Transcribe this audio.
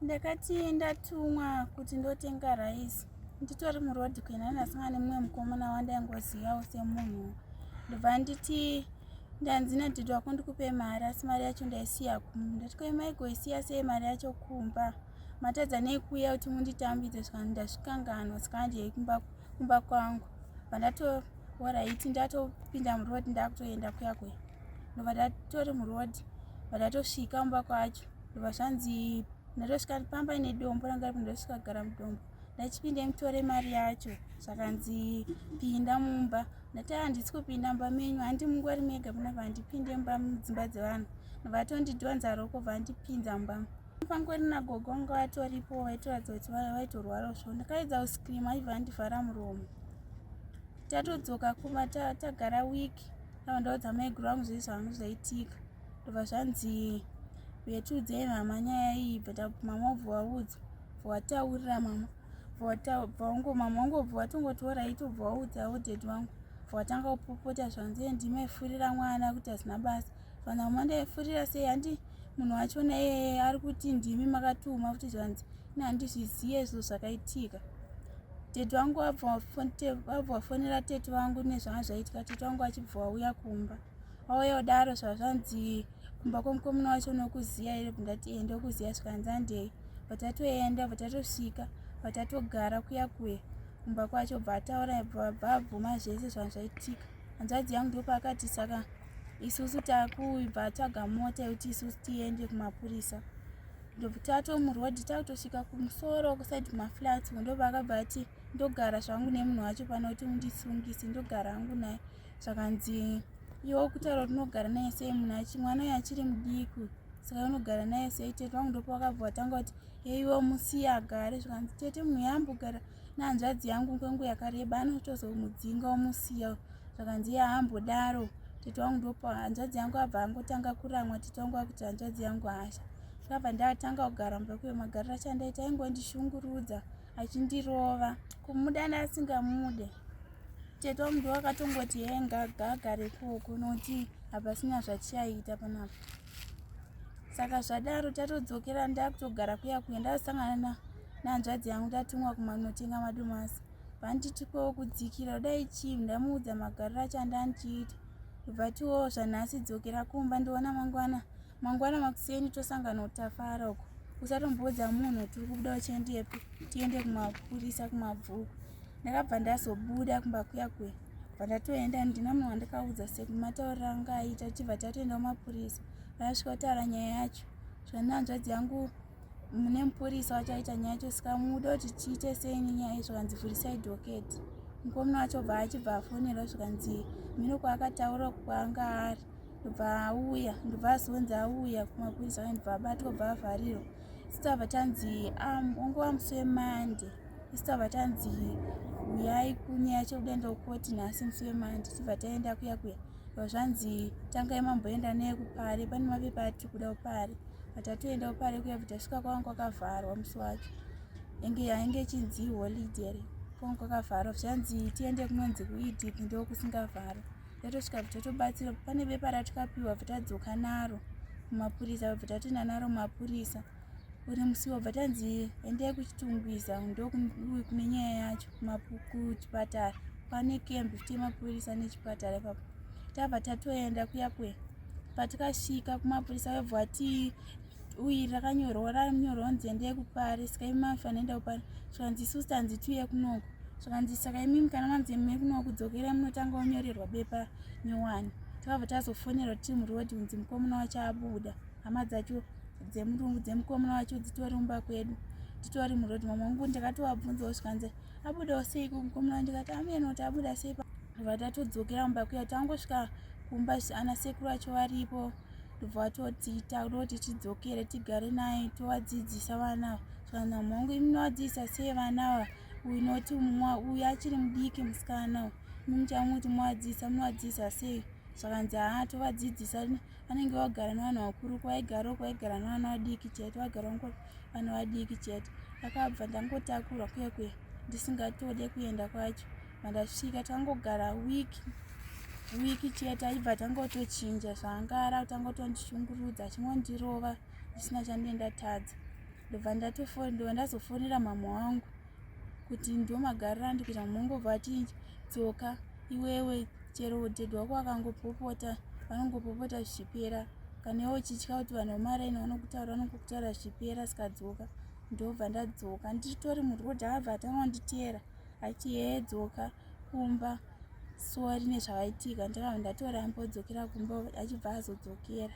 ndakati ndatumwa kuti ndotenga rice nditori muroad kuenda ndasanga nemumwe mukomana wandaingozivawo semunhu ndobva nditi ndanzi nadhidi wako ndikupe mari asi mari yacho ndaisiya kumba ndati koimaigoisiya sei mari yacho kumba matadza nei kuuya kuti munditambidze zvikanzi ndazvikanganwa saka handiyei kumba kwangu vandatohoraiti ndatopinda muroad ndakutoenda kuya kuya ndobva ndatori muroad vandatosvika mumba kwacho ndobva zvanzi ndotosvika pamba ine dombo ranga ripo ndotosvika kugara mudombo ndachipinde mutore mari yacho zvakanzi pinda mumba ndati handisi kupinda mumba menyu handi mungori mega muna vandipinde mumba mudzimba dzevanhu vatondidyonza roko vandipinza mumba pangori nagogo vanga vatoripo vaitoratidza kuti vaitorwara zvo ndakaedza kuscream aibva andivhara muromo tatodzoka kuma tagara week avandaudza maiguru vangu zvei zvangu zvaitika ndobva zvanzi uye tiudzei mama nyaya iyi but mama ubva waudza bva wataurira mama bvaungo mama wangu ubva watongotora iti ubva waudza auded wangu bva watanga kupopota zvanzi ndimaifurira mwana kuti hazina basa vana mama ndaifurira sei handi munhu wacho naye ari kuti ndimi makatuma kuti zvanzi ini handizviziye izvo zvakaitika tete wangu abva wafonera tete wangu nezvanga zvaitika tete wangu achibva wauya kumba wauya kudaro zvazvanzi kumba kwomukomuna wacho unokuziva here bndati ee ndokuziva zvikanzandei vatatoenda vatatosvika vatatogara kuya kuya kumba kwacho bva ataura bvabvabvuma zvese zvanhu zvaitika hanzvadzi yangu ndopaakati saka isusu takuibva atsvaga mota yekuti isusu tiende kumapurisa ndobvitato murodi takutosvika kumusoro kusaidi kumaflats ndobva akabva ati ndogara zvangu nemunhu wacho pano kuti undisungise ndogara hangu naye zvakanzi iwe ukutaura kuti unogara naye sei munhu achi mwana uyo achiri mudiki saka unogara naye sei tete vangu ndopa vakabva vatanga kuti heiwe musiya agare zvikanzi tete munhu yaambogara nehanzvadzi yangu kwengu yakareba anotozomudzinga omusiya zvakanzi iye aambodaro tete wangu ndopa hanzvadzi yangu abva angotanga kuramwa tete wangu akuti hanzvadzi yangu hasha zvakabva ndatanga kugara mubva kuyo magariro achandaita aingondishungurudza achindirova kumuda neasingamude tete wamuda wakatongoti hee ngagagare koko nokuti hapasina zvachiyaita panapa saka zvadaro tatodzokera ndakutogara kuya kuya ndasangana nanzvadzi yangu tatumwa kumanotenga madomasi vanditikowo kudzikira kudai chii ndamuudza magariro achandandiita bva tiwo zvanhasi dzokera kumba ndiona mangwana mangwana makuseni tosangana utafara uko usatomboudza munhu tiri kubuda uchiendepi tiende kumapurisa kumabvuku ndakabva ndazobuda kumba kuya kuya bva ndatoenda handina munhu wandakaudza sekumataurira anga aita tibva tatoenda kumapurisa vaasvika kutaura nyaya yacho zvananzvadzi yangu mune mupurisa wachaita nyaya yacho saka muda kuti tiite sei nenyaya izvo kanzi vhurisai doketi mukomuna wacho bva achibva afonerwa zvikanzi mino kwaakataura kwanga ari ndobva auya ndobva azonzi auya kumapurisa ane ndobva abatwa bva avharirwa isitava tanzi wange wamusi wemande isitava tanzi uyai kunyaya chekuda ndokoti nhasi musi wemande tibva taenda kuya kuya ndobva zvanzi tangai mamboenda neye kupare pane mapepa atiri kuda kupare atatoenda kupare kuya bva tasvika kwavanga kwakavharwa musi wacho enge yainge ichinzi holiday kwanga kwakavharwa zvanzi tiende kunonzi kuidip ndokusingavharwa yatosvika bva totobatsira pane bepa ratikapiwa bva tadzoka naro kumapurisa vabva tatoenda naro mapurisa uri musi wabva tanzi endai kuchitungwiza ndokune nyaya yacho kuchipatara pane camp futi yemapurisa nechipatara ipapo tabva tatoenda kuya kuya patikasvika kumapurisa vebva tii uyi rakanyorwa ranyorwa nzi endei kupari saka imi maifanira enda kupari zvikanzi isu sitanzi tiuye kunoku zvikanzi saka imimi kana manzi imi kunoku kudzokera munotanga wanyorerwa bepa nyowani takabva tazofonerwa timu road kunzi mukomuna wacho abuda hama dzacho dzemurungu dzemukomuna wacho dzitori mumba kwedu titori muroad mamwe wangu ndakatovabvunzawo zvikanzi abudawo sei kumukomuna ndikati amene kuti abuda sei vatatodzokera mumba kuya tangosvika kumba ana sekuru vacho varipo ndobva vatoti tauroti tidzokere tigare naye tovadzidzisa vana ava kana mhongo iminovadzidzisa sei vana ava uyu noti mumwa uyu achiri mudiki musikana uyu mumuchamuti muvadzidzisa munovadzidzisa sei zvakanzi haa tovadzidzisa vanenge vagara nevanhu vakuru kwaigaro kwaigara nevana vadiki chete vagara ngo vana vadiki chete akabva ndangotakurwa kwekwe ndisingatode kuenda kwacho mandasvika tangogara wiki wiki chete aibva tangotochinja zvaangara tangotondishungurudza achingondirova zvisina chandendatadza ndobva ndatofondiwa ndazofonera mama wangu kuti ndomagarira ndikuita mamongobva achinja tsoka iwewe chero udhedhi wako akangopopota vanongopopota zvichipera kana iwe uchitya kuti vanhu vemaraini vanokutaura vanongokutaura zvichipera sikadzoka ndobva ndadzoka nditori muroad abva atanga kunditeera vaiti hee dzoka kumba sori nezvavaitika ndava ndatoramba odzokera kumba achibva azodzokera